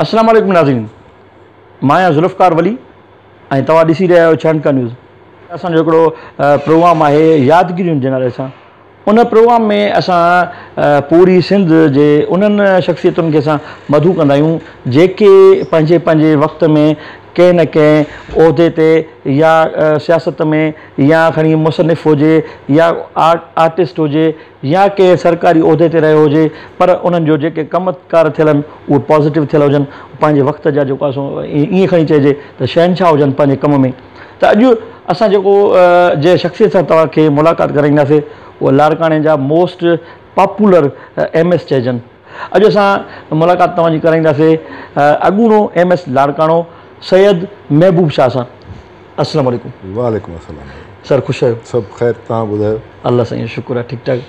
اسلام عليڪم ناظرين مان آهيان ذوالفقار ولي ۽ توهان ڏسي رهيا آهيو ڇهن کا نيوز اسان جو هڪڙو پروگرام آهي يادگيريون جي نالي سان ان پروگرام ۾ اسان پوري سنڌ جي انهن شخصيتن کي اسان مدعو ڪندا آهيون جيڪي پنهنجي پنهنجي وقت ۾ ڪنهن نه ڪنهن عهدي تي يا سياست ۾ يا کڻي مصنف هجي يا آرٽسٽ هجي يا ڪنهن سرڪاري عهدي تي رهيو هجي پر انهن جو جيڪي ڪم ڪار ٿيل آهن اهي پازيٽو ٿيل هجن پنهنجي وقت جا جيڪو اسان ائين کڻي چئجي ته شهنشاهه هجن پنهنجي ڪم ۾ ته اڄ اسان جيڪو جنهن شخصيت سان توهان کي ملاقات ڪرائينداسي اهي لاڙڪاڻي جا موسٽ پاپولر ايم ايس چئجن اڄ اسان ملاقات توهان جي ڪرائينداسي اڳوڻو ايم ايس لاڙڪاڻو سيد محبوب شاهه سان. اسلام عليڪم. وعليڪم السلام سر خوش آهيو. سڀ خير تهان ٻڌايو. الله سائين جو شڪر آهي ٺيڪ ٺاڪ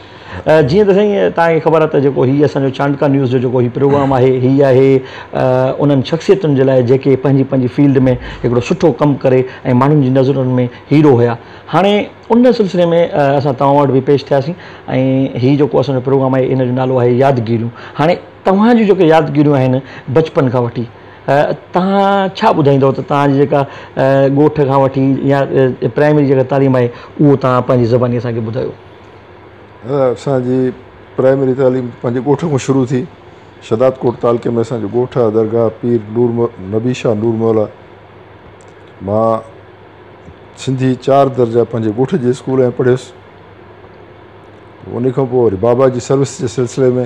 جيئن ته سائين تهان کي خبر آهي ته جيڪو هي اسان جو چانڊڪا نيوز جو جيڪو هي پروگرام آهي هي آهي انهن شخصيتن جي لاء جيڪي پنهنجي پنهنجي فيلڊ ۾ هڪڙو سٺو ڪم ڪري ۽ ماڻهن جي نظرن ۾ هيرو هيا هاڻي ان سلسلي ۾ اسان توهان وٽ به پيش ٿياسين ۽ هي جيڪو اسان جو پروگرام آهي ان جو نالو آهي يادگيريون هاڻي توهان جون جيڪي يادگيريون آهن بچپن کان وٺي توهان ڇا ٻڌائيندؤ ته توهان جي جيڪا ڳوٺ کان وٺي يا پرائمري جيڪا تعليم آهي اهو توهان پنهنجي زباني اسان کي ٻڌايو. اسان جي پرائمري تعليم پنهنجي ڳوٺ کان شروع ٿي. شهداد ڪوٽ تعلقي ۾ اسان جو ڳوٺ آهي درگاهه پير نور نبي شاهه نور مولا مان سنڌي چار درجا پنهنجي ڳوٺ جي اسڪول ۾ پڙهيس. ان کان پوء وري بابا جي سروس جي سلسلي ۾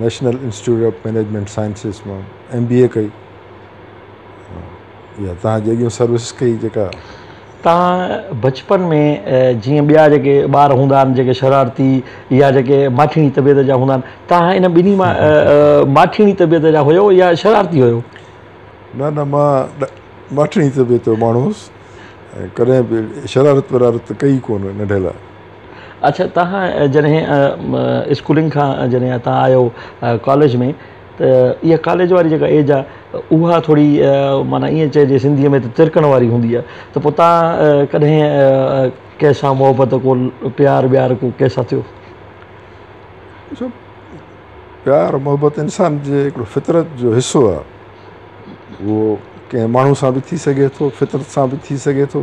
National Institute of Management Sciences مان ايم بي اي ڪئي يا تان جي اڳيون سروس ڪئي جيڪا تان بچپن ۾ جيئن ٻيا جيڪي ٻار هوندا آهن جيڪي شرارتي يا جيڪي ماٺيڻي طبيعت جا هوندا آهن تان ان ٻنهي مان ماٺيڻي طبيعت جا هيو يا شرارتي هيو نه نه مان ماٺيڻي طبيعت جو ماڻهو هوس ڪڏهن به شرارت ورارت ڪئي ڪونه ننڍي لاء اڇا توهان جڏهن اسڪولنگ کان جڏهن هتان آيو ڪاليج ۾ ته اها ڪاليج واري جيڪا ايج آهي اها ٿوري معنيٰ ائين چئجي سنڌيء ۾ ته ترڪڻ واري هوندي آهي ته پوء توهان ڪڏهن ڪنهن سان محبت ڪو پيار ويار ڪو ڪنهن سان ٿيو؟ ڏسو پيار محبت انسان جي هڪڙو فطرت جو حصو آهي اهو ڪنهن ماڻهو سان به ٿي سگهي ٿو فطرت سان به ٿي سگهي ٿو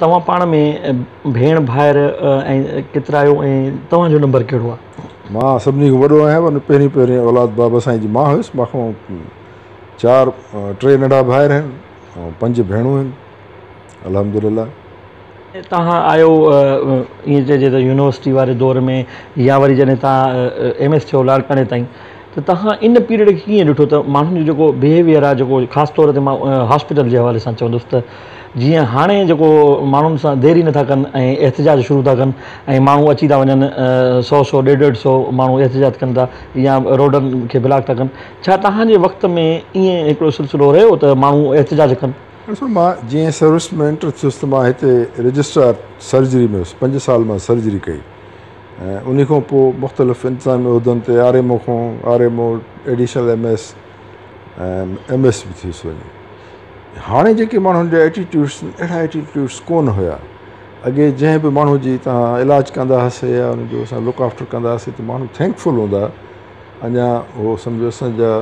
توهان پاڻ ۾ ڀيڻ ڀائر ۽ ڪيترايو ۽ توهان جو نمبر ڪهڙو آ؟ مان سڀني کان وڏو آهيان ۽ پهرين پهرين اولاد بابا سائين جي مان هيس مان کان چار ٽي ننڍا ڀائر آهن ۽ پنج ڀيڻون آهن الحمد لله. توهان آيو ائين چئجي ته يونيورسٽي واري دور ۾ يا وري جڏهن توهان ايم ايس ٿيو لاڙڪاڻي تائين ته توهان ان پيريڊ کي ڪيئن ڏٺو ته ماڻهن جو جيڪو بيهيويئر آهي جيڪو خاص طور تي مان هاسپيٽل جي حوالي سان چوندس ته جيئن هاڻي جيڪو ماڻهن سان دير ئي نٿا ڪن ۽ احتجاج شروع ٿا ڪن ۽ ماڻهو اچي ٿا وڃن سو سو ڏيڍ ڏيڍ سو ماڻهو احتجاج ڪن ٿا يا روڊن کي بلاڪ ٿا ڪن ڇا توهان جي وقت ۾ ائين هڪڙو سلسلو رهيو ته ماڻهو احتجاج ڪن؟ ڏسو مان جيئن سروس ۾ انٽر ٿيس ته مان هتي رجسٽرار سرجري ۾ هيس پنج سال مان سرجري ڪئي ۽ انهي کان پوء مختلف انتظامي عهدن تي آر ايم او کان R M O, additional M S ۽ M S به ٿيس وڃي. هاڻي جيڪي ماڻهن جا ايٽيٽيوڊس اهڙا ايٽيٽيوڊس ڪونه هيا. اڳي جنهن به ماڻهو جي توهان علاج ڪندا هئاسي يا ان جو اسان لڪ آفٽر ڪندا هئاسي ته ماڻهو ٿينڪ فل هوندا اڃا هو سمجهو اسان جا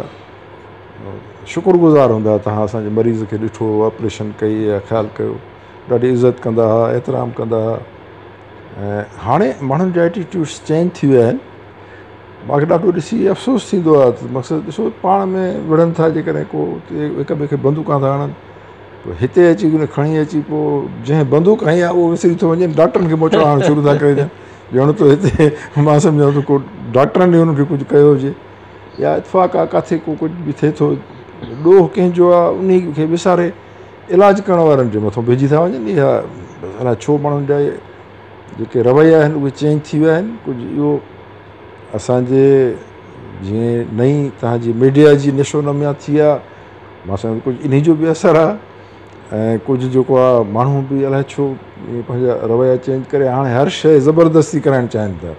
شڪر گذار هوندا توهان اسان جي مريض کي ڏٺو آپريشن ڪئي يا خيال ڪيو ڏاڍي عزت ڪندا هئا احترام ڪندا هئا هاڻي ماڻهن جا ائٽيٽيوڊس چينج ٿي ويا آهن ماکي ڏاڍو ڏسي افسوس ٿيندو آهي ته مقصد ڏسو پاڻ ۾ وڙهن ٿا جيڪڏهن ڪو هڪ ٻئي کي بندوقا ٿا هڻن پوء هتي اچي ڪري کڻي اچي پوء جنهن بندوق هنئي آهي اهو وسري ٿو وڃي ڊاڪٽرن کي موچڙا هڻڻ شروع ٿا ڪري ڏين ڄڻ ته هتي مان سمجهان ٿو ڪو ڊاڪٽرن هن کي ڪجهه ڪيو هجي يا اتفاق آ ڪاٿي ڪو ڪجهه به ٿئي ٿو ڏوهه ڪنهن جو آهي انهي کي وساري علاج ڪرڻ وارن جي مٿو بيھجي ٿا وڃن اھا الاء ڇو ماڻھن جا جيڪي رويا آھن اھي چينج ٿي ويا آھن ڪجھ اھو اسان جي جيئن نئين ترھان جي ميڊيا جي نشو نميا ٿي آ مان سمجھان ٿو ڪجھ انھي جو به اثر آ ۽ ڪجھ جيڪو آ ماڻھو به الاء ڇو ايئن پنھنجا رويا چينج ڪري ھاڻي ھر شيء زبردستي ڪرائڻ چاھين ٿا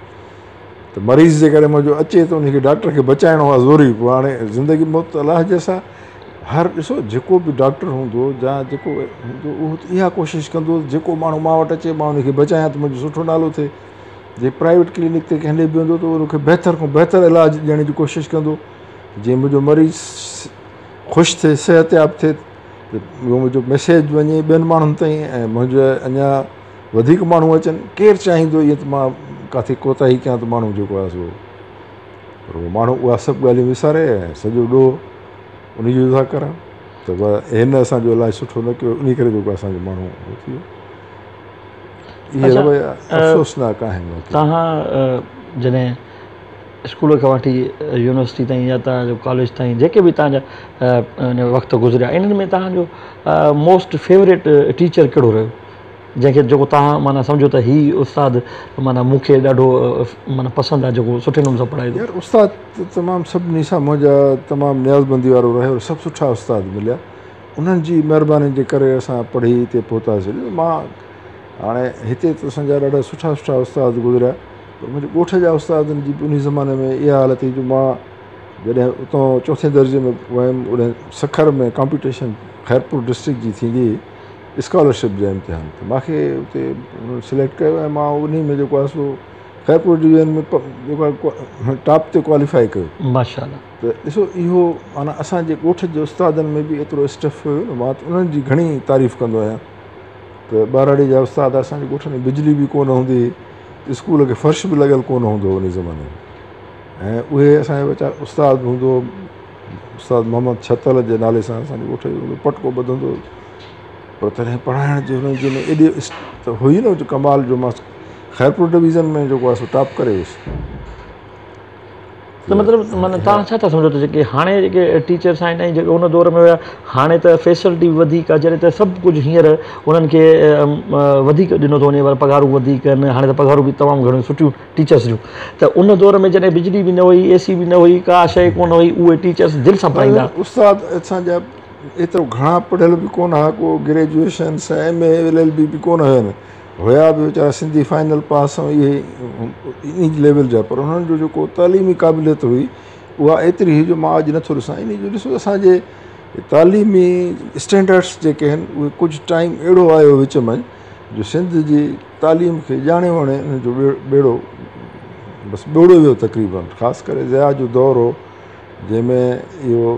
ته مريض جيڪڏھن منھنجو اچي ته انھي کي ڊاڪٽر کي بچائڻو آ ضروري پوء ھاڻي زندگي موت الاء جي سا هر ڏسو جيڪو به ڊاڪٽر هوندو جا جيڪو به هوندو اهو ته اها ڪوشش ڪندو جيڪو ماڻهو مان وٽ اچي مان ان کي بچايان ته منهنجو سٺو نالو ٿئي جي پرائيويٽ ڪلينڪ تي ڪنهن ڏي به ويندو ته ان کي بهتر کان بهتر علاج ڏيڻ جي ڪوشش ڪندو جي منهنجو مريض خوش ٿئي صحت ياب ٿئي ته منهنجو ميسيج وڃي ٻين ماڻهن تائين ۽ منهنجو اڃا وڌيڪ ماڻهو اچن ڪير چاهيندو ائين ته مان ڪاٿي ڪوتاهي ڪيان ته ماڻهو جيڪو آهي سو پر ماڻهو اها سڀ ڳالهيون وساري ۽ سڄو ڏوهه ان جو ٿا ڪرن ته هن اسان جو علاج سٺو نه ڪيو ان ڪري جيڪو اسان جو ماڻهو هو ٿي ويو اهي رويا افسوسناڪ آهن توهان جڏهن اسڪول کان وٺي يونيورسٽي تائين يا توهان جو ڪاليج تائين جيڪي به توهان جا وقت گذريا انهن ۾ توهان جو موسٽ فيوريٽ ٽيچر ڪهڙو رهيو جنهن کي جيڪو توهان معنيٰ سمجهو ته هي استاد معنيٰ مون کي ڏاڍو معنيٰ پسند آهي جيڪو سٺي نموني سان پڙهائي ٿو. يار استاد ته تمام سڀني سان منهنجا تمام نيازمندي وارو رهيو ۽ سڀ سٺا استاد مليا انهن جي مهربانين جي ڪري اسان پڙهي هتي پهتاسين مان هاڻي هتي ته اسان جا ڏاڍا سٺا سٺا استاد گذريا پر منهنجي ڳوٺ جا استادن جي به انهي زماني ۾ اها حالت هئي جو مان جڏهن اتان چوٿين درجي ۾ ويم اڏهن سکر ۾ ڪامپيٽيشن خيرپور ڊسٽرڪٽ جي ٿيندي هئي اسڪالرشپ جا امتحان ته ما کي اتي سليڪٽ ڪيو ويو ما ان ۾ جيڪو آهي سو خيرپور ڊويزن ۾ جيڪو آهي ٽاپ تي ڪواليفائي ڪيو ماشاءالله ته ڏسو اهو معنيٰ اسانجي ڳوٺ جي استادن ۾ به ايترو اسٽف هيو نه ما انهن جي گهڻي تعريف ڪندو آهيان ته ٻهراڙي جا استاد اسانجي ڳوٺ ۾ بجلي به ڪونه هوندي هئي اسڪول کي فرش به لڳل ڪونه هوندو هو ان زماني ۾ ۽ اهي اسانجا ٻچا استاد به هوندو هو استاد محمد ڇتل جي نالي سان اسان جي ڳوٺ جو هڪ پٽڪو ٻڌندو هو پر تڏهن پڙهائڻ جي هن جي ايڏي ته هئي نه جو ڪمال جو ماستر خيرپور ڊويزن ۾ جيڪو آهي سو ٽاپ ڪري ويس ته مطلب معنيٰ تان ڇا ٿا سمجهو ته جيڪي هاڻي جيڪي ٽيچرس آهن ۽ جيڪي ان دور ۾ هيا هاڻي ته فيسلٽي به وڌيڪ آهي جڏهن ته سڀ ڪجهه هينئر انهن کي وڌيڪ ڏنو ٿو وڃي ورنه پگهارون وڌيڪ آهن هاڻي ته پگهارون به تمام گهڻيون سٺيون ٽيچرس جون ته ان دور ۾ جڏهن بجلي به نه هئي اي سي به نه هئي ڪا شيء ڪونه هئي اهي ٽيچرس دل سان پڙهائيندا هئا. استاد اسان جا ايترو گهڻا پڙهيل به ڪونه ها ڪو گريجوئيشن سا M A L L B به ڪونه هين هيا به ويچارا سنڌي فائنل پاس ۽ اهي انهي ليول جا پر انهن جو جيڪو تعليمي قابليت هئي اها ايتري هئي جو مان اڄ نٿو ڏسان انهي جو ڏسو اسان جي تعليمي اسٽينڊرڊس جيڪي هين اهي ڪجهه ٽائيم اهڙو آيو وچ ۾ جو سنڌ جي تعليم کي ڄاڻي وڻي ان جو ٻيڙو بس ٻوڙو ويو تقريباً خاص ڪري ضياء جو دور هو جنهن ۾ اهو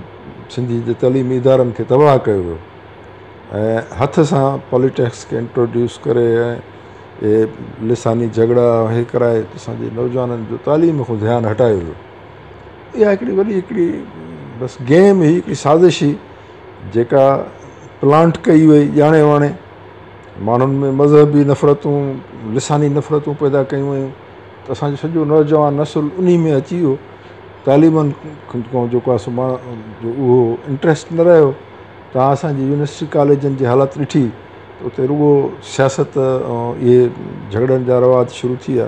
سنڌي جي تعليمي ادارن کي تباهه ڪيو ويو ۽ هٿ سان پاليٽيڪس کي انٽروڊيوس ڪري اهي لساني جهڳڙا اهي ڪرائي اسانجي نوجوانن جو تعليم کان ڌيان هٽايو ويو اها هڪڙي وڏي هڪڙي بس گيم هئي هڪڙي سازش هئي جيڪا پلانٽ ڪئي وئي ڄاڻي واڻي ماڻهن ۾ مذهبي نفرتون، لساني نفرتون پيدا ڪيون ويون ته اسان جو سڄو نوجوان نسل انهي ۾ اچي ويو. تعليمن کان جيڪو آهي سو جو اهو انٽريسٽ نه رهيو. توهان اسان جي يونيورسٽي ڪاليجن جي حالت ڏٺي ته اتي رڳو سياست ۽ اهي جهڳڙن جا رواج شروع ٿي ويا.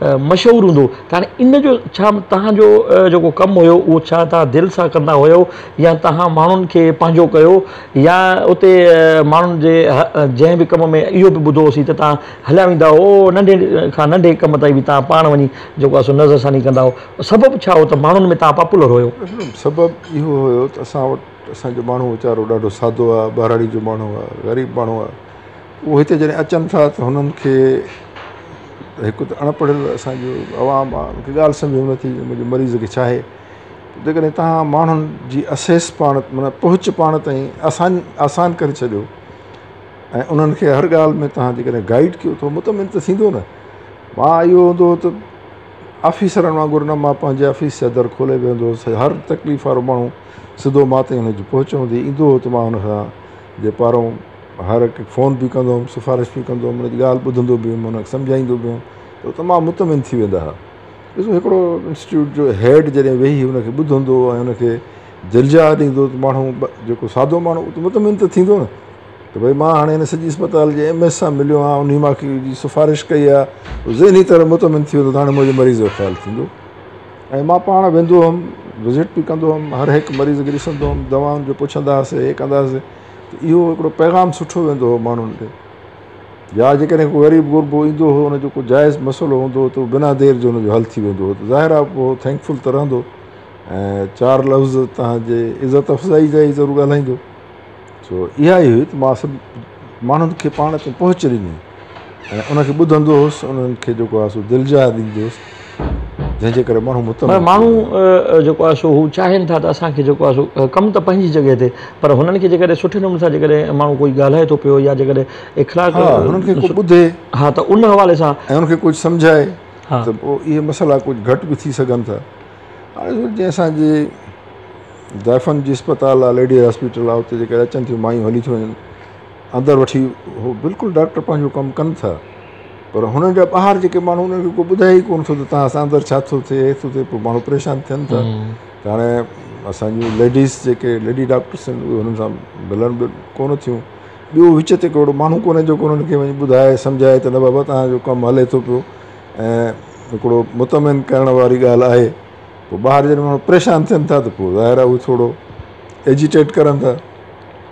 مشهور هوندو ته هاڻي ان جو ڇا توهان جو جيڪو ڪم هيو اهو ڇا توهان دل سان ڪندا هيو يا توهان ماڻهن کي پنهنجو ڪيو يا اتي ماڻهن جي جنهن به ڪم ۾ اهو به ٻڌو هوسين ته توهان هليا ويندا هو ننڍي کان ننڍي ڪم تائين به توهان پاڻ وڃي جيڪو آهي سو نظر ثاني ڪندا هو سبب ڇا هو ته ماڻهن ۾ توهان پاپولر هيو؟ سبب اهو هيو ته اسان وٽ اسان جو ماڻهو ويچارو ڏاڍو سادو آهي ٻهراڙي جو ماڻهو آهي غريب ماڻهو آهي اهو هتي جڏهن اچن ٿا ته هنن کي هڪ ته اڻ پڙهيل اسانجو عوام آ ان کي ڳالهه سمجهه ۾ نٿي اچي منهنجي مريض کي ڇا آهي جيڪڏهن توهان ماڻهن جي اسيس پاڻ معنيٰ پهچ پاڻ تائين آسان آسان ڪري ڇڏيو ۽ انهن کي هر ڳالهه ۾ توهان جيڪڏهن گائيڊ ڪيو ٿو مطمئن ته ٿيندو نه ماء اهو هوندو ته آفيسرن وانگر نه ماء پنهنجي آفيس جا در کولي ويهندو هوس هر تڪليف وارو ماڻهو سڌو ماء تائين ان جي پهچ هوندي ايندو هو ته ماء ان کان جي پارو هر هڪ کي فون به ڪندو هيم سفارش به ڪندو هيم ان جي ڳالهه ٻڌندو به هيم ان کي سمجهائيندو به هيم ته تمام مطمئن ٿي ويندا هئا ڏسو هڪڙو انسٽيٽيوٽ جو هيڊ جڏهن ويهي ان کي ٻڌندو ۽ ان کي جلجا ڏيندو ته ماڻهو جيڪو سادو ماڻهو اهو مطمئن ته ٿيندو نه ته ڀئي مان هاڻي هن سڄي اسپتال جي ايم ايس سان مليو آهيان انهي ماکي جي سفارش ڪئي آهي ذهني طرح مطمئن ٿي ويندو ته هاڻي منهنجي مريض جو خيال ٿيندو ۽ مان پاڻ ويندو هيم وزٽ به ڪندو هيم هر هڪ مريض کي ڏسندو هيم دوائن جو پڇندا هئاسين هي ڪندا هئاسين ته اهو هڪڙو پيغام سٺو ويندو هو ماڻهن ڏي يا جيڪڏهن ڪو غريب غربو ايندو هو ان جو ڪو جائز مسئلو هوندو هو ته بنا دير جو ان جو حل ٿي ويندو هو ته ظاهر آهي پوء هو ٿينڪ فل ته رهندو ۽ چار لفظ تنهن جي عزت افزائي جا ئي ضرور ڳالهائيندو سو اها ئي هئي ته ماس ماڻهن کي پاڻ تائين پهچ ڏني ۽ ان کي ٻڌندو هوس انهن کي جيڪو آهي سو دل جاء ڏيندو هوس جنهن جي ڪري ماڻهو متم پر ماڻهو جيڪو آهي سو هو چاهين ٿا ته اسان کي جيڪو آهي سو ڪم ته پنهنجي جڳهه تي پر هنن کي جيڪڏهن سٺي نموني سان جيڪڏهن ماڻهو ڪوئي ڳالهائي ٿو پيو يا جيڪڏهن اخلاق ها هنن کي ڪو ٻڌي ها ته ان حوالي سان ۽ ان کي ڪجهه سمجهائي ها ته پوء اهي مسئلا ڪجهه گهٽ به ٿي سگهن ٿا هاڻي جي اسان جي ضعيفن جي اسپتال آهي ليڊيز هاسپيٽل آهي اتي جيڪڏهن اچن ٿيون مايون هلي ٿيون وڃن اندر وٺي هو بلڪل ڊاڪٽر پنهنجو ڪم ڪن ٿا پر هنن جا ٻاهر جيڪي ماڻهو انهن کي ڪو ٻڌائي ئي ڪونه ٿو ته تنهن سان اندر ڇا ٿو ٿئي ٿو ٿئي پوء ماڻهو پريشان ٿين ٿا ته هاڻي اسان جون ليڊيز جيڪي ليڊي ڊاڪٽرس آهن اهي هنن سان ملن به ڪونه ٿيون ٻيو وچ تي ڪو اهڙو ماڻهو ڪونه جيڪو هنن کي وڃي ٻڌائي سمجهائي ته نه بابا تنهن جو ڪم هلي ٿو پيو ۽ هڪڙو مطمئن ڪرڻ واري ڳالهه آهي پوء ٻاهر جڏهن ماڻهو پريشان ٿين ٿا ته پوء ظاهر آهي هو ٿورو ايجيٽيٽ ڪرن ٿا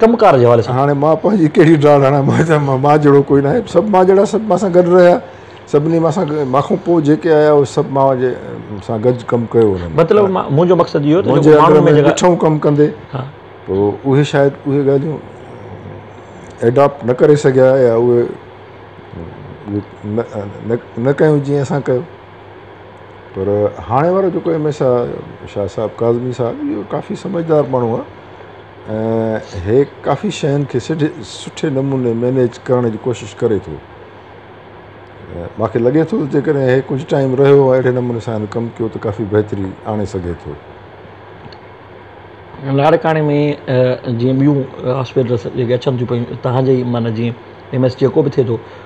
ڪم ڪار جي حوالي سان هاڻي مان پنهنجي ڪهڙي ڊاڙ هڻان مان چيو ته مان جهڙو ڪوئي ناهي سڀ مان جهڙا سڀ مان سان گڏ رهيا سڀني مان سان مان کان پوء جيڪي آيا اهي سڀ مان جي سان گڏ ڪم ڪيو انهن مطلب منهنجو مقصد اهو ته منهنجي اندر ۾ ڏٺو ڪم ڪندي تو اهي شايد اهي ڳالهيون ايڊاپٽ نه ڪري سگهيا يا اهي نه ڪيون جيئن اسان ڪيو پر هاڻي وارو جيڪو ايم ايس آ شاهه صاحب ڪاظمي صاحب اهو ڪافي سمجهدار ماڻهو آ ۽ هي ڪافي شين کي سڍي سٺي نموني مينيج ڪرڻ جي ڪوشش ڪري ٿو ماکي لڳي ٿو جيڪڏهن هي ڪجهه ٽائيم رهيو اهڙي نموني سان هن ڪم ڪيو ته ڪافي بهتري آڻي سگهي ٿو لاڙڪاڻي ۾ جيئن ٻيون هاسپيٽلس جيڪي اچن ٿيون پيون تهان جي معنيٰ جيئن ايم ايس جيڪو به ٿئي ٿو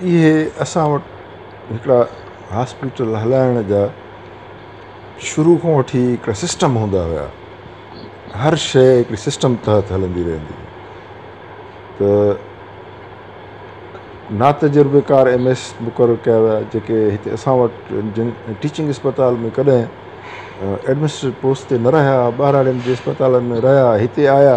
اهي اسان وٽ هڪڙا هاسپيٽل هلائڻ جا شروع کان وٺي هڪڙا سسٽم هوندا هيا هر شي هڪڙي سسٽم تحت هلندي رهندي هئي ته نا تجربي ڪار ايم ايس مقرر ڪيا ويا جيڪي هتي اسان وٽ جن ٽيچنگ اسپتال ۾ ڪڏهن ايڊمنسٽريٽ پوسٽ تي نه رهيا ٻهراڙين جي اسپتالن ۾ رهيا هتي آيا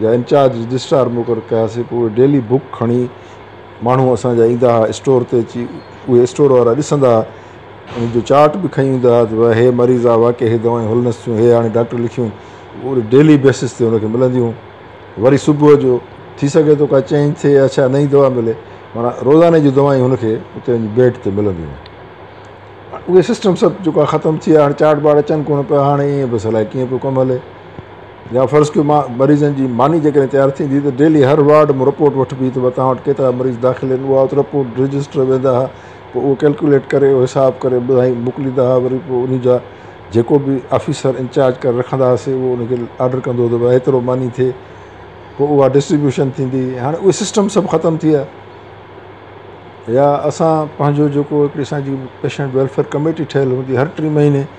جا انچارج رجسٽرار مقرر ڪياسين پوء اهي ڊيلي بڪ کڻي ماڻهو اسان جا ايندا ها اسٽور تي اچي اهي اسٽور وارا ڏسندا ها انهن جو چارٽ به کڻي ويندا ها ته بابا هي مريض آهي واقعي هي دوائون هلنس ٿيون هي هاڻي ڊاڪٽر لکيون اهي ڊيلي بيسس تي ان کي ملنديون وري صبح جو ٿي سگهي ٿو ڪا چينج ٿئي يا ڇا نئين دوا ملي مانا روزاني جون دوائيون هن کي اتي وڃي بيڊ تي ملنديون هيون اهي سسٽم سڀ جيڪو ختم ٿي ويا هاڻي چارٽ بارٽ اچن ڪونه پيا هاڻي ائين بس الائي ڪيئن پيو ڪم هلي يا فرض ڪيو مان مريضن جي ماني جيڪڏهن تيار ٿيندي ته ڊيلي هر وارڊ مون رپورٽ وٺبي ته متان وٽ ڪيترا مريض داخل آهن اها ات رپورٽ رجسٽر ويندا ها پوء اهو ڪيلڪوليٽ ڪري اهو حساب ڪري ٻڌائي موڪليندا ها وري پوء انهي جا جيڪو به آفيسر انچارج ڪري رکندا هاسي اهو انهي کي آرڊر ڪندو ته ڀاء ايترو ماني ٿئي پوء اها ڊسٽريبيوشن ٿيندي هاڻي اهي سسٽم سڀ ختم ٿي ويا يا اسان پنهنجو جيڪو هڪڙي اسان جي پيشنٽ ويلفيئر ڪميٽي ٺهيل هوندي هر ٽي مهيني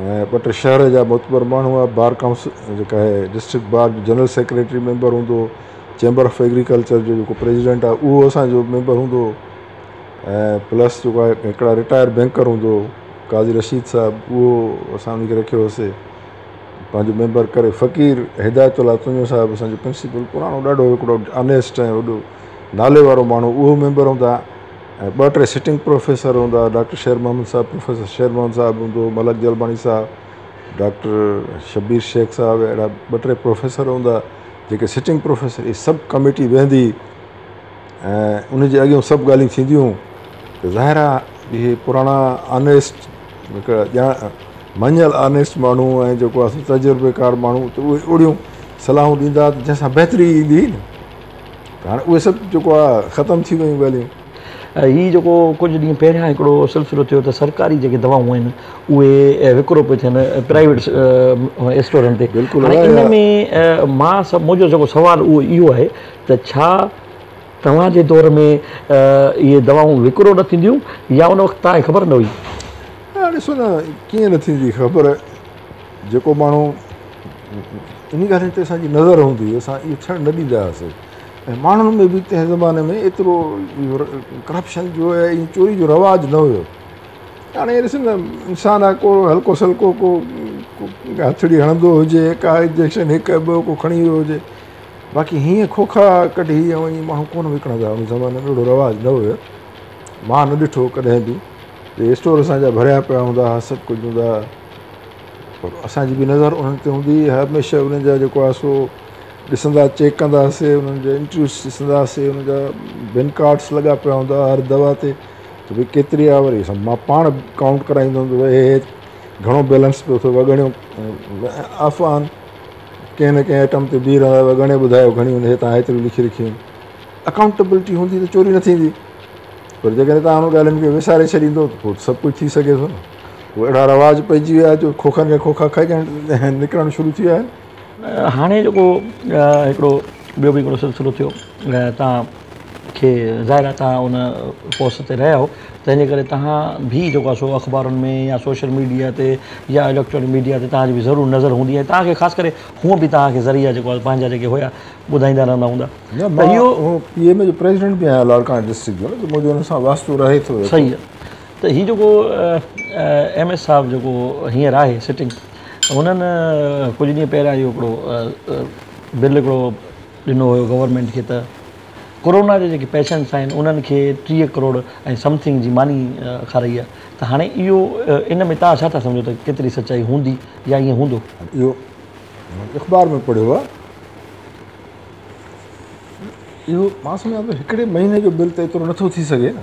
۽ ٻه ٽي شهر جا معتبر ماڻهو هئا، بار ڪائونسل جيڪا آهي ڊسٽرڪٽ بار جو جنرل سيڪريٽري ميمبر هوندو هو، چيمبر آف ايگريڪلچر جو جيڪو پريزيڊنٽ آهي اهو اسان جو ميمبر هوندو هو ۽ پلس جيڪو آهي هڪڙا رٽائر بينڪر هوندو هو قاضي رشيد صاحب اهو اسان ان کي رکيو هوسي پنهنجو ميمبر ڪري فقير هدايت الله تنيو صاحب اسان جو پرنسپل پراڻو ڏاڍو هڪڙو آنيسٽ ۽ وڏو نالي وارو ماڻهو اهو ميمبر هوندا ۽ ٻه ٽي سٽنگ پروفيسر هوندا، ڊاڪٽر شير محمد صاحب، پروفيسر شير محمد صاحب هوندو، ملڪ جلباڻي صاحب، ڊاڪٽر شبير شيخ صاحب اهڙا ٻه ٽي پروفيسر هوندا جيڪي سٽنگ پروفيسر هئي سب ڪميٽي ويهندي ۽ ان جي اڳيون سڀ ڳالهيون ٿينديون ته ظاهر آهي اهي پراڻا آنيسٽ هڪڙا مڃيل آنيسٽ ماڻهو ۽ جيڪو تجربيڪار ماڻهو ته اهي اهڙيون صلاحون ڏيندا ته جنهن سان بهتري ايندي هئي نه هاڻي اهي سڀ جيڪو آهي ختم ٿي ويون ڳالهيون. هي جيڪو ڪجهه ڏينهن پهريان هڪڙو سلسلو ٿيو ته سرڪاري جيڪي دوائون آهن اهي وڪرو پيون ٿين پرائيويٽ اسٽورن تي هاڻي ان ۾ مان منهنجو جيڪو سوال اهو اهو آهي ته ڇا توهان جي دور ۾ اهي دوائون وڪرو نه ٿينديون يا ان وقت توهان کي خبر نه هئي. ڏسو نه ڪيئن نه ٿيندي خبر جيڪو ماڻهو انهي ڳالهين تي اسان جي نظر هوندي هئي اسان اهو ٿيڻ نه ڏيندا هئاسين ۽ ماڻهن ۾ به تنهن زماني ۾ ايترو ڪرپشن جو ۽ چوري جو رواج نه هيو هاڻي ڏسو نه انسان آ ڪو هلڪو سلڪو ڪو هٿڙي هڻندو هجي ڪا انجيڪشن هڪ ٻه ڪو کڻي ويو هجي باقي هيئن کوکا ڪڍي ۽ ائين ماڻهو ڪونه وڪڻندا هئا ان زماني ۾ اهڙو رواج نه هيو مان نه ڏٺو ڪڏهن به اسٽور اسان جا ڀريا پيا هوندا هئا سڀ ڪجهه هوندا هئا پر اسان جي به نظر انهن تي هوندي هئي، هميشه انهن جا جيڪو آهي سو ڏسندا چيڪ ڪندا هئاسين، انهن جا انٽرويوز ڏسندا هئاسين، انهن جا بن ڪارڊس لڳا پيا هوندا هئا هر دوا تي ته ڀئي ڪيتري آهي وري اسان مان پاڻ ڪائونٽ ڪرائيندو هوندو هو هي گهڻو بيلنس پيو اٿو وڳڻيو افواهن ڪنهن نه ڪنهن آئٽم تي بيهي رهندا وڳڻي ٻڌايو گهڻي هن هي تان هيتريون لکي رکيون آهن اڪائونٽبلٽي هوندي ته چوري نه ٿيندي پر جيڪڏهن تان انهن ڳالهين کي وساري ڇڏيندو ته پوء سڀ ڪجهه ٿي سگهي ٿو نه هو اهڙا رواج پئجي ويا آهن جو کوکن کي کوکا کائجڻ نڪرڻ شروع ٿي ويا آهن هاڻي جيڪو هڪڙو ٻيو به هڪڙو سلسلو ٿيو تان کي ظاهر آهي تان ان پوسٽ تي رهيا آهو تنهنجي ڪري تان به جيڪو آهي سو اخبارن ۾ يا سوشل ميڊيا تي يا اليڪٽرانڪ ميڊيا تي تان جي به ضرور نظر هوندي ۽ تان کي خاص ڪري هونء به تان کي ذريعا جيڪو آهي پنهنجا جيڪي هيا ٻڌائيندا رهندا هوندا ته اهو پي ايم اي جو پريزيڊنٽ به آهيان لاڙڪاڻي ڊسٽرڪٽ جو منهنجو ان سان واسطو رهي ٿو صحيح ته هي جيڪو ايم ايس صاحب جيڪو هينئر آهي سٽنگ هنن ڪجهه ڏينهن پهريان اهو هڪڙو بل هڪڙو ڏنو هيو گورنمينٽ کي ته ڪورونا جا جيڪي پيشنٽس آهن انهن کي ٽيهه ڪروڙ ۽ سمٿنگ جي ماني کارائي آهي ته هاڻي اهو ان ۾ تان ڇا ٿا سمجهو ته ڪيتري سچائي هوندي يا ائين هوندو؟ اهو اخبار ۾ پڙهيو آهي اهو مان سمجهان ٿو هڪڙي مهيني جو بل ته ايترو نٿو ٿي سگهي نه.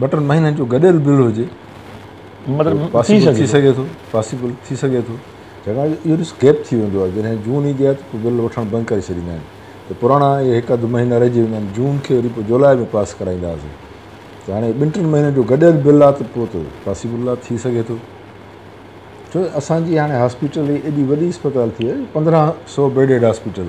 ٻه ٽن مهينن جو گڏيل بل هجي پاسيبل ٿي سگهي ٿو پاسيبل ٿي سگهي ٿو ڇاڪاڻ جو اهو ڏس گيپ ٿي ويندو آهي جڏهن جون ايندي آهي ته بل وٺڻ بند ڪري ڇڏيندا آهن ته پراڻا اهي هڪ اڌ مهينا رهجي ويندا آهن جون کي وري پوء جولاء ۾ پاس ڪرائيندا هئاسي ته هاڻي ٻن ٽن مهينن جو گڏيل بل آهي ته پوء ته پاسيبل آهي ٿي سگهي ٿو ڇو اسانجي هاڻي هاسپيٽل ايڏي وڏي اسپتال ٿي وئي پندرهن سو بيڊيڊ هاسپيٽل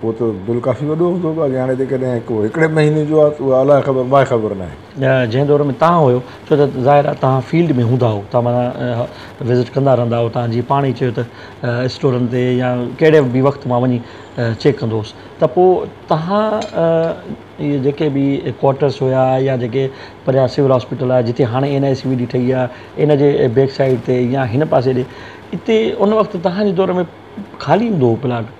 پوء ته بل ڪافي وڏو هوندو هو اڳي هاڻي جيڪڏهن ڪو هڪڙي مهيني جو آهي ته اها الاء خبر ماء خبر ناهي. جنهن دور ۾ تان هيو ڇو ته ظاهر آهي تان فيلڊ ۾ هوندا هو تان معنيٰ وزٽ ڪندا رهندا هو تان جيئن پاڻ ئي چيو ته اسٽورن تي يا ڪهڙي به وقت مان وڃي چيڪ ڪندو هوس ته پوء تان اهي جيڪي به ڪوارٽرس هيا يا جيڪي پريان سول هاسپيٽل آهي جتي هاڻي N I C V D ٺهي آهي ان جي بيڪ سائيڊ تي يا هن پاسي ڏي اتي ان وقت تان جي دور ۾ خالي هوندو هو پلاٽ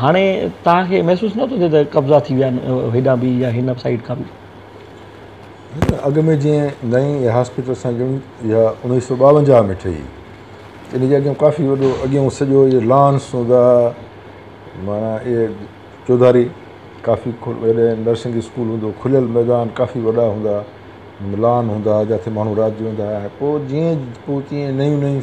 هاڻي توهان کي محسوس نه ٿو ٿئي ته قبضا ٿي ويا آهن هيڏانهن به يا هن سائيڊ کان به؟ اڳ ۾ جيئن نئين اها هاسپيٽل اسان جي اها اڻويهه سؤ ٻاونجاهه ۾ ٺهي ان جي اڳيان ڪافي وڏو اڳيان سڄو اهي لان سوڌا معنيٰ اهي چوڌاري ڪافي وڏي نرسنگ اسڪول هوندو کليل ميدان ڪافي وڏا هوندا لان هوندا جاٿي ماڻهو رات جو ويندا هئا پوء جيئن پوء تيئن نيون نيون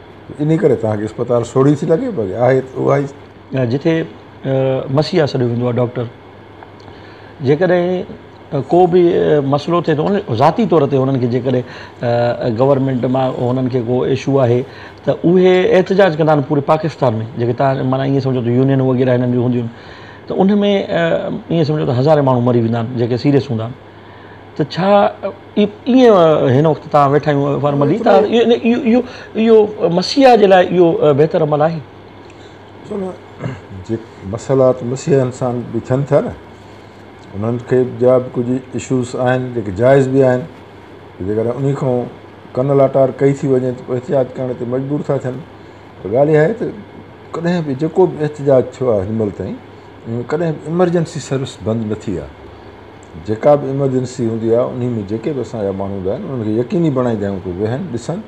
انهيء ڪري توهان کي اسپتال سوڙهي ٿي لڳي پر آهي ته اها ئي. جتي مسيحا سڏيو ويندو آهي ڊاڪٽر جيڪڏهن ڪو به مسئلو ٿئي ٿو نه ذاتي طور تي هنن کي جيڪڏهن گورنمينٽ مان هنن کي ڪو اشو آهي ته اهي احتجاج ڪندا آهن پوري پاڪستان ۾ جيڪي تان معنيٰ ائين سمجهو ته يونين وغيره هنن جون هونديون آهن ته ان ۾ ائين سمجهو ته هزارين ماڻهو مري ويندا آهن جيڪي سيريس هوندا آهن ته ڇا ائين هن وقت تهان ويٺا آهيون فارملي ته اهو اهو مسيح جي لاء اهو بهتر عمل آهي جي مسئلا ته مسيحن سان به ٿين ٿا نه انهن کي ٻيا به ڪجهه اشوز آهن جيڪي جائز به آهن جيڪڏهن ان کان ڪن لاٽار ڪئي ٿي وڃي ته پوء احتجاج ڪرڻ تي مجبور ٿا ٿين پر ڳالهه اها آهي ته ڪڏهن به جيڪو به احتجاج ٿيو آهي هن مهل تائين ڪڏهن به ايمرجنسي سروس بند نه ٿي آهي جيڪا به ايمرجنسي هوندي آهي انهي ۾ جيڪي به اسان جا ماڻهو هوندا آهن انهن کي يقيني بڻائيندا آهيون ته ويهن ڏسن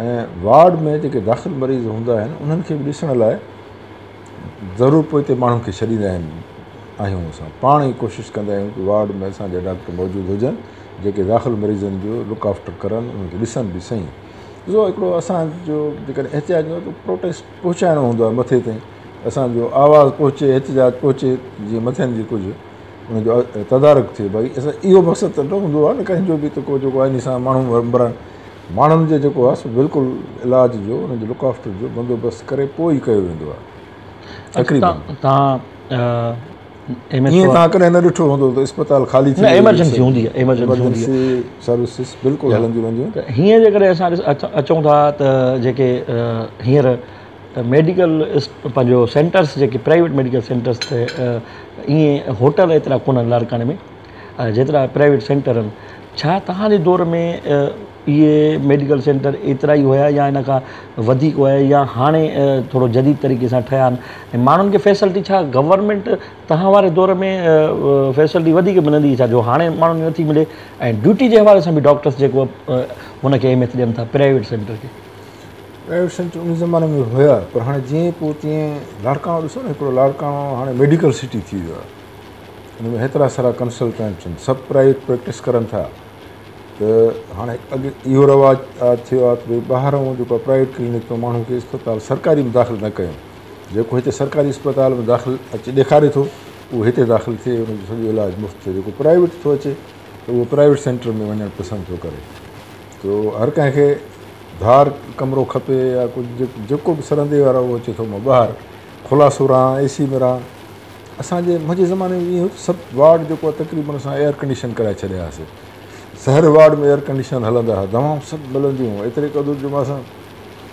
۽ وارڊ ۾ جيڪي داخل مريض هوندا آهن انهن کي به ڏسڻ لاء ضرور پوئتي ماڻهن کي ڇڏيندا آهن آهيون اسان پاڻ ئي ڪوشش ڪندا آهيون ته وارڊ ۾ اسان جا ڊاڪٽر موجود هجن جيڪي داخل مريضن جو لڪ آفٽر ڪرن انهن کي ڏسن به سهي ڏسو هڪڙو اسانجو جيڪڏهن احتجاج جو ته پروٽيسٽ پهچائڻو هوندو آهي مٿي تائين اسانجو آواز پهچي احتجاج پهچي جيئن مٿين جي ڪجهه ان جو تدارڪ ٿئي ڀائي اسان اهو مقصد ته نه هوندو آهي نه ڪنهن جو به ته ڪو جيڪو آئيني سان ماڻهو مرن ماڻهن جو جيڪو آهي سو بلڪل علاج جو ان جو لڪ آفٽر جو بندوبست ڪري پوء ئي ڪيو ويندو آهي تقريبن تان ايئن تان ڪڏهن نه ڏٺو هوندو ته اسپتال خالي ٿي ايمرجنسي هوندي آهي ايمرجنسي هوندي آهي سروسز بلڪل هلنديون وينديون هيئن جيڪڏهن اسان اچون ٿا ته جيڪي هينئر ته ميڊيڪل پنهنجو سينٽرس جيڪي پرائيويٽ ميڊيڪل سينٽرس تي ائين هوٽل ايترا ڪونه لاڙڪاڻي ۾ جيترا پرائيويٽ سينٽر آهن ڇا تهان جي دور ۾ اهي ميڊيڪل سينٽر ايترا ئي هيا يا ان کان وڌيڪ هيا يا هاڻي ٿورو جديد طريقي سان ٺهيا آهن ۽ ماڻهن کي فيسلٽي ڇا گورمينٽ تهان واري دور ۾ فيسلٽي وڌيڪ ملندي هئي ڇا جو هاڻي ماڻهن کي نٿي ملي ۽ ڊيوٽي جي حوالي سان به ڊاڪٽرس جيڪو هن کي اهميت ڏين ٿا پرائيويٽ سينٽر کي پرائيويٽ سينٽر ان زماني ۾ هيا پر هاڻي جيئن پوء تيئن لاڙڪاڻو ڏسو نه هڪڙو لاڙڪاڻو هاڻي ميڊيڪل سٽي ٿي ويو آهي ان ۾ هيترا سارا ڪنسلٽنٽ آهن سڀ پرائيويٽ پريڪٽس ڪرن ٿا ته هاڻي اڳ اهو رواج ٿيو آهي ته ڀئي ٻاهران جيڪو آهي پرائيويٽ ڪلينڪ ۾ ماڻهو کي اسپتال سرڪاري ۾ داخل نه ڪيو جيڪو هتي سرڪاري اسپتال ۾ داخل اچي ڏيکاري ٿو اهو هتي داخل ٿئي ان جو سڄو علاج مفت ٿئي جيڪو پرائيويٽ ٿو اچي ته اهو پرائيويٽ سينٽر ۾ وڃڻ پسند ٿو ڪري سو هر ڪنهن کي ڌار ڪمرو کپي يا ڪجهه جيڪو به سرندي وارو اهو اچي ٿو مان ٻاهر کلا سور آهن اي سي ۾ رهان اسانجي منهنجي زماني ۾ اهو سڀ وارڊ جيڪو آهي تقريبن اسان ايئر ڪنڊيشن ڪرائي ڇڏيا هئاسي سهر وارڊ ۾ ايئر ڪنڊيشن هلندا هئا دوائون سڀ ملنديون هيون ايتري قدر جو اسان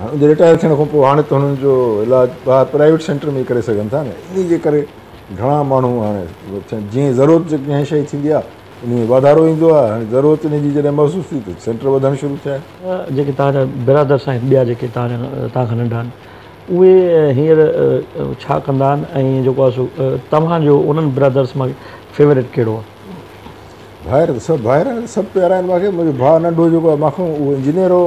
هن جي رٽائر ٿيڻ کانپوء هاڻي ته هنن جو علاج ٻاهر پرائيويٽ سينٽر ۾ ئي ڪري سگهن ٿا نه انهي جي ڪري گهڻا ماڻهو هاڻي جيئن ضرورت جي ڪنهن شيء ٿيندي آهي انهي ۾ واڌارو ايندو آهي هاڻي ضرورت انهي جي جڏهن محسوس ٿي ته سينٽر وڌڻ شروع ٿيا آهن. جيڪي توهان جا برادر سائين ٻيا جيڪي توهان جا توهان کان ننڍا آهن اهي هينئر ڇا ڪندا آهن ۽ جيڪو آهي سو توهان جو انهن برادرس مان فيوريٽ ڪهڙو آهي؟ ڀائر ته سڀ ڀائر آهن سڀ پيارا آهن مون کي منهنجو ڀاء ننڍو جيڪو آهي مان کان اهو انجنيئر هو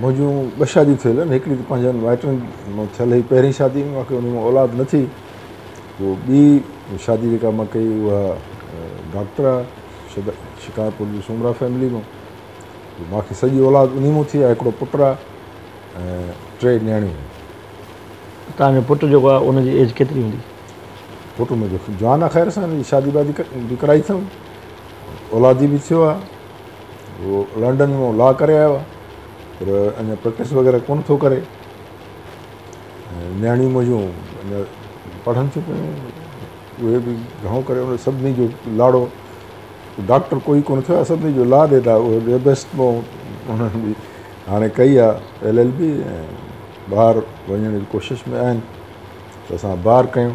منهنجون ٻه شاديون ٿيل آهن، هڪڙي ته پنهنجن مائٽن مان ٿيل هئي پهرين شادي ۾ واقعي ان مان اولاد نه ٿي پوء ٻي شادي جيڪا مان ڪئي اها ڊاڪٽر آهي شڪارپور جي سومرا فيملي مان پوء مان کي سڄي اولاد انهي مان ٿي آهي هڪڙو پٽ آهي ۽ ٽي نياڻيون آهن. توهان جو پٽ جيڪو آهي ان جي ايج ڪيتري هوندي؟ پٽ منهنجو جوان آهي خير سان ان جي شادي وادي به ڪرائي اٿم اولادي به ٿيو آهي هو لنڊن مان لا ڪري آيو آهي پر اڃا پريڪٽس وغيره ڪونه ٿو ڪري نياڻيون منهنجون اڃا پڙهن ٿيون پيون اهي به گهڻو ڪري ان سڀني جو لاڙو ڊاڪٽر کوئی ڪونه ٿيو سڀني جو لا ڏي ٿا بيسٽ مون هاڻي ڪئي آهي ايل ايل بي ٻاهر وڃڻ جي ڪوشش ۾ آهن ته اسان ٻاهر ڪيون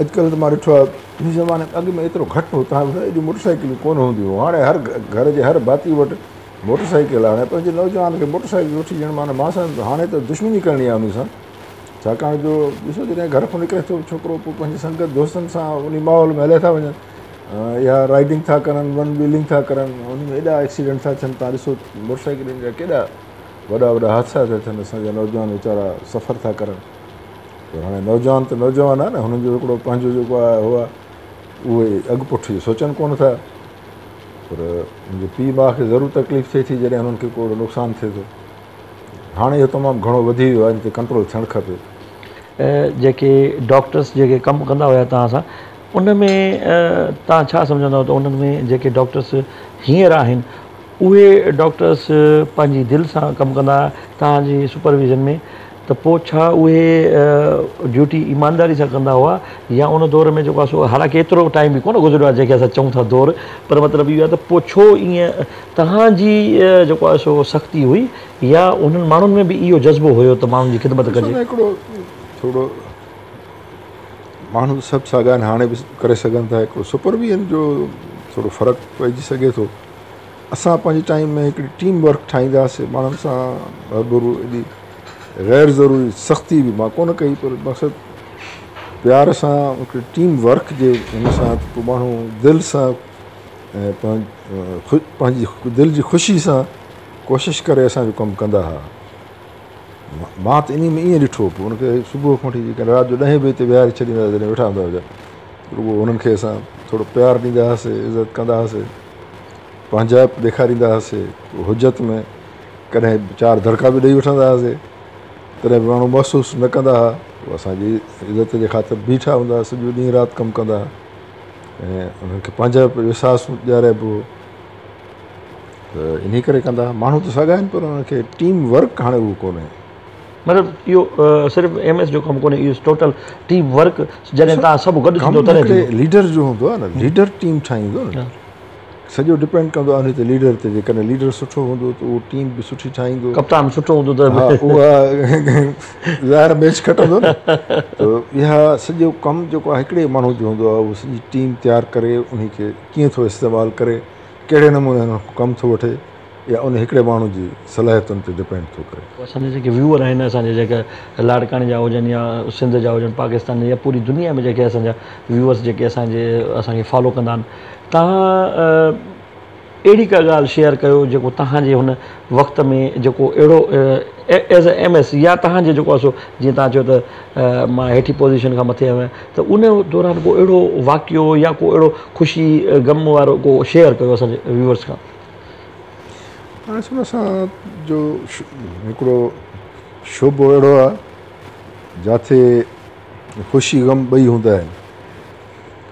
اڄڪلهه ته مان ڏٺو آهي ان زماني ۾ اڳ ۾ ايترو گهٽ هو تنهن وقت ايڏيون موٽر سائيڪلون ڪونه هونديون هيون هاڻي هر گهر جي هر ڀاتي وٽ موٽر سائيڪل آهي پنهنجي نوجوان کي موٽر سائيڪل وٺي ڏيڻ معنيٰ ماء سان هاڻي ته دشمني ڪرڻي آهي ان سان ڇاڪاڻ جو ڏسو جڏهن گهر کان نڪري ٿو ڇوڪرو پوء پنهنجي سنگت دوستن سان ان ماحول ۾ هليا ٿا وڃن اها رائيڊنگ ٿا ڪرن ون ويلنگ ٿا ڪرن ان ۾ ايڏا ايڪسيڊنٽ ٿا ٿين تان ڏسو موٽر سائيڪلين جا ڪيڏا وڏا وڏا حادثا ٿا ٿين اسان جا نوجوان ويچارا سفر ٿا ڪرن پر هاڻي نوجوان ته نوجوان آهن هنن جو هڪڙو پنهنجو جيڪو آهي هو آهي اهي اڳ پٺ جو سوچن ڪون ٿا پر منهنجي پيء ماء کي ضرور تڪليف ٿئي ٿي جڏهن هنن کي ڪو اهڙو نقصان ٿئي ٿو هاڻي اهو تمام گهڻو وڌي ويو آهي ان تي ڪنٽرول ٿيڻ کپي جيڪي ڊاڪٽرس جيڪي ڪم ڪندا هيا توهان سان ان ۾ توهان ڇا سمجهندا ته انهن ۾ جيڪي ڊاڪٽرس هينئر آهن اهي ڊاڪٽرس پنهنجي دل سان ڪم ڪندا توهان جي سپرويزن ۾ ته پوء ڇا اهي ڊيوٽي ايمانداري سان ڪندا هئا يا ان دور ۾ جيڪو آهي سو حالانڪه ايترو ٽائيم به ڪونه گذريو آهي جنهن کي اسان چئون ٿا دور پر مطلب اهو آهي ته پوء ڇو ائين توهان جي جيڪو آهي سو سختي هئي يا انهن ماڻهن ۾ به اهو جذبو هيو ته ماڻهن جي خدمت ڏسو ڪجي. نا هڪڙو ٿورو ماڻهو سڀ ساڳيا آهن هاڻي به ڪري سگهن ٿا هڪڙو سپر ويئن جو ٿورو فرق پئجي سگهي ٿو. اسان پنهنجي ٽائيم ۾ هڪڙي ٽيم ورڪ ٺاهينداسين ماڻهن سان روبرو ايڏي غير ضروري سختي به مان ڪونه ڪئي پر مقصد پيار سان هڪڙي ٽيم ورڪ جي ان سان ته پوء ماڻهو دل سان ۽ پنهنجي دل جي خوشي سان ڪوشش ڪري اسانجو ڪم ڪندا ها مان ته انهي ۾ ائين ڏٺو پوء ان کي صبح کان وٺي جيڪڏهن رات جو ڏهين بجي تي ويهاري ڇڏيندا ها جڏهن ويٺا هوندا هجن رڳو انهن کي اسان ٿورو پيار ڏيندا هئاسين عزت ڪندا هئاسين پنهنجائپ ڏيکاريندا هئاسي، حجت ۾ ڪڏهن چار دڙڪا به ڏئي وٺندا هئاسي، تڏهن به ماڻهو محسوس نه ڪندا هئا، هو اسان جي عزت جي خاطر بيٺا هوندا هئا، سڄو ڏينهن رات ڪم ڪندا هئا ۽ انهن کي پنهنجائپ جو احساس ڏيارائبو هو ته انهي ڪري ڪندا هئا، ماڻهو ته ساڳيا آهن پر انهن کي ٽيم ورڪ هاڻي اهو ڪونهي. مطلب اهو صرف ايم ايس جو ڪم ڪونهي اهو ٽوٽل ٽيم ورڪ جڏهن تان سڀ گڏ ٿيندو تڏهن ٿيندو ليڊر جو هوندو آهي نه ليڊر ٽيم ٺاهيندو نه سڄو ڊپينڊ ڪندو آهي ته ليڊر تي جي ڪڏهن ليڊر سٺو هوندو ته اهو ٽيم به سٺي ٺاهيندو ڪپتان سٺو هوندو ته اها ظاهر ميچ کٽندو نه ته اها سڄو ڪم جيڪو آهي هڪڙي ماڻهو جو هوندو آهي اهو سڄي ٽيم تيار ڪري انهي کي ڪيئن ٿو استعمال ڪري ڪهڙي نموني هن کان ڪم ٿو وٺي يا ان هڪڙي ماڻهو جي صلاحيتن تي ڊپينڊ ٿو ڪري. اسان جا جيڪي ويوئر آهن اسان جا جيڪي لاڙڪاڻي جا هجن يا سنڌ جا هجن پاڪستان جا يا پوري دنيا ۾ جيڪي اسان جا ويوئرس جيڪي اسان جي اسان کي فالو ڪندا آهن تهان اهڙي ڪا ڳالهه شيئر ڪيو جيڪو تهان جي هن وقت ۾ جيڪو اهڙو ايز اي ايم ايس يا تهان جي جيڪو سو جيئن تهان چيو ته مان هيٺي پوزيشن کان مٿي آهيان ته ان دوران ڪو اهڙو واقعو يا ڪو اهڙو خوشي غم وارو ڪو شيئر ڪيو اسان جي ويوئرس کان اسان سان جو هڪڙو شعبو اهڙو آهي جاٿي خوشي غم ٻئي هوندا آهن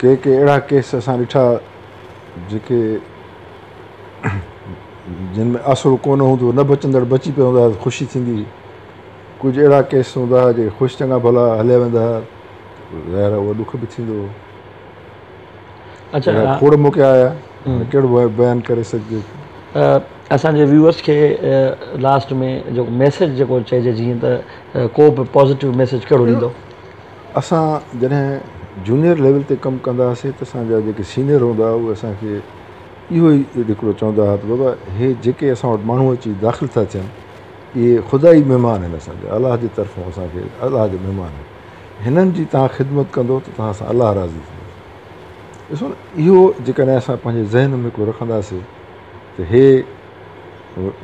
ڪي ڪي اهڙا ڪيس اسان ڏٺا جيڪي جن ۾ آسرو ڪو نه هوندو نه بچندڙ بچي پيا هوندا هئا خوشي ٿيندي هئي ڪجهه اهڙا ڪيس هوندا هئا جيڪي خوش چڱا ڀلا هليا ويندا هئا ظاهر هو ڏک به ٿيندو هو اچا اهڙا کوڙ موقعا آيا هن ڪهڙو بيان ڪري سگهجي ٿو. اسان جي ويوئرس کي لاسٽ ۾ جيڪو ميسيج جيڪو چئجي جيئن ته ڪو به پازيٽو ميسيج ڪهڙو ڏيندو. اسان جڏهن جونيئر ليول تي ڪم ڪندا هئاسي ته اسان جا جيڪي سينيئر هوندا هئا اهي اسان کي اهو ئي هڪڙو چوندا هئا ته بابا هي جيڪي اسان وٽ ماڻهو اچي داخل ٿا ٿين اهي خدائي مهمان آهن اسان جا الله جي طرفون اسان کي الله جا مهمان آهن. هنن جي توهان خدمت ڪندو ته توهان سان الله راضي ٿيندو. ڏسو نه اهو جيڪڏهن اسان پنهنجي ذهن ۾ ڪو رکنداسين ته هي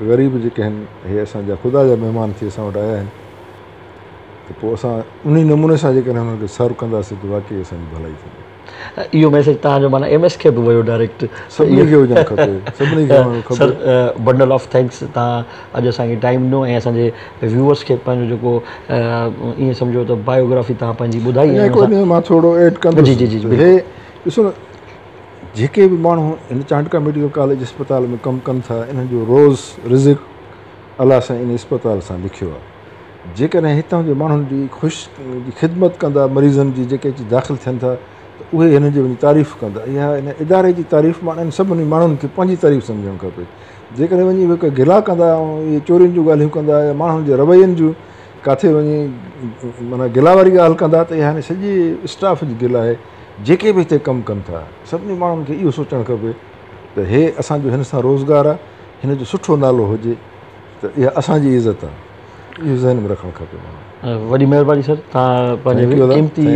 غريب جيڪي آهن هي اسان جا خدا جا مهمان ٿي اسان وٽ آيا آهن ته پوء اسان انهي نموني سان جيڪڏهن هنن کي سرو ڪنداسين ته واقعي اسان جي ڀلائي ٿيندي. اهو ميسيج تهان جو معنيٰ ايم ايس کي به ويو ڊائريڪٽ. سڀني کي هجڻ کپي. سڀني کي هجڻ کپي. سر بنڊل آف ٿينڪس تهان اڄ اسان کي ٽائيم ڏنو ۽ اسان جي ويوئرس کي پنهنجو جيڪو ائين سمجهو ته بايوگرافي تهان پنهنجي ٻڌائي ۽ هڪ واري مان ٿورڙو ايڊ ڪندس. جي جي جي جي هي ڏسو نه جيڪي به ماڻهو هن چانڊڪا ميڊيڪل ڪاليج اسپتال ۾ ڪم ڪن ٿا انهن جو روز رزق الله سائين ان اسپتال سان لکيو آهي. جيڪڏهن هتان جي ماڻهن جي خوش جي خدمت ڪندا مريضن جي جيڪي اچي داخل ٿين ٿا ته اهي هنن جي وڃي تعريف ڪندا اها هن اداري جي تعريف مان انهن سڀني ماڻهن کي پنهنجي تعريف سمجهڻ کپي جيڪڏهن وڃي اهي ڪا گلا ڪندا ۽ اهي چورين جون ڳالهيون ڪندا يا ماڻهن جي روين جون ڪاٿي وڃي معنيٰ گلا واري ڳالهه ڪندا ته اها هن سڄي اسٽاف جي گلا آهي جيڪي به هتي ڪم ڪن ٿا سڀني ماڻهن کي اهو سوچڻ کپي ته هي اسان جو هن سان روزگار آهي هن جو سٺو نالو هجي ته اها اسان جي عزت آهي اهو ذهن ۾ رکڻ کپي ماڻهن کي. وڏي مهرباني سر توهان پنهنجي قيمتي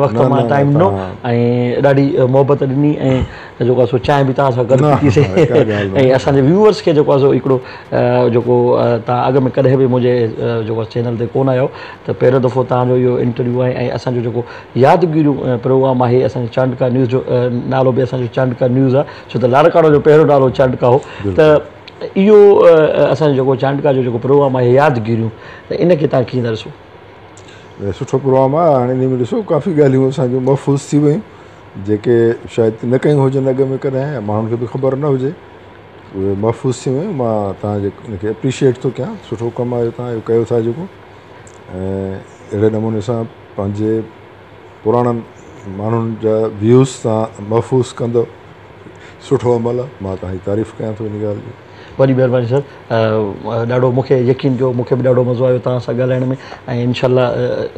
وقت مان ٽائيم ڏنو ۽ ڏاڍي محبت ڏني ۽ جيڪو سو چانهه به توهان سان گڏ پيتي سي ۽ اسان جي ويوورس کي جيڪو سو هڪڙو جيڪو توهان اڳ ۾ ڪڏهن به منهنجي جيڪو چينل تي ڪونه آيو ته پهريون دفعو توهان جو اهو انٽرويو آهي ۽ اسان جو جيڪو يادگيرو پروگرام آهي اسان جي چانڊڪا نيوز جو نالو به اسان جو چانڊڪا نيوز آهي ڇو ته لاڙڪاڻو جو پهريون نالو چانڊڪا هو ته اهو اسان جو جيڪو چانڊڪا جو جيڪو پروگرام آهي يادگيريون ته ان کي تان ڪيئن ڏسو؟ سٺو پروگرام آهي هاڻي ان ۾ ڏسو ڪافي ڳالهيون اسان جون محفوظ ٿي ويون جيڪي شايد نه ڪيون هجن اڳ ۾ ڪڏهن يا ماڻهن کي به خبر نه هجي اهي محفوظ ٿي ويون مان تان جي ان کي اپريشيئيٽ ٿو ڪيان سٺو ڪم آهي تان اهو ڪيو ٿا جيڪو ۽ اهڙي نموني سان پنهنجي پراڻن ماڻهن جا ويوز تان محفوظ ڪندو سٺو عمل آ مان توهان جي تعريف ڪيان ٿو ان ڳالهه جي. وڏي مهرباني سر ڏاڍو مون کي يقين ڪيو مون کي به ڏاڍو مزو آيو توهان سان ڳالهائڻ ۾ ۽ انشاء الله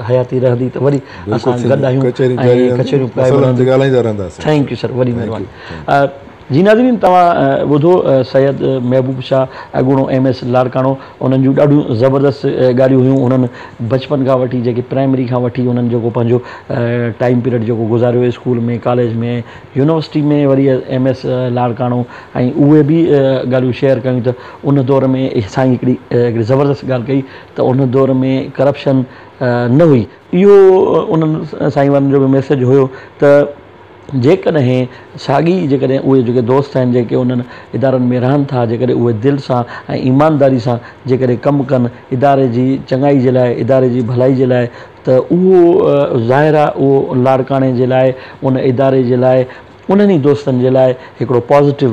حياتي رهندي ته وري اسان گڏ آهيون ۽ ڪچهريون پرائي رهنديون ٿينڪ يو سر وڏي مهرباني جي ناظرين توهان ٻڌو سيد محبوب شاهه اڳوڻو ايم ايس لاڙڪاڻو انهن جون ڏاڍيون زبردست ڳالهيون هيون انهن بچپن کان وٺي جيڪي پرائمري کان وٺي انهن جيڪو پنهنجو ٽائيم پيريڊ جيڪو گذاريو اسڪول ۾ ڪاليج ۾ يونيورسٽي ۾ وري ايم ايس لاڙڪاڻو ۽ اهي به ڳالهيون شيئر ڪيون ته ان دور ۾ سائين هڪڙي هڪڙي زبردست ڳالهه ڪئي ته ان دور ۾ ڪرپشن نه هئي اهو انهن سائين وارن جو به ميسيج هيو ته جيڪڏهن ساڳي جيڪڏهن اهي جيڪي دوست آهن جيڪي انهن ادارن ۾ رهن ٿا جيڪڏهن اهي دل سان ۽ ايمانداري سان جيڪڏهن ڪم ڪن اداري جي چڱائي جي لاء اداري جي ڀلائي جي لاء ته اهو ظاهر آهي اهو لاڙڪاڻي جي لاء ان اداري جي لاء انهن ئي دوستن جي لاء هڪڙو پازيٽو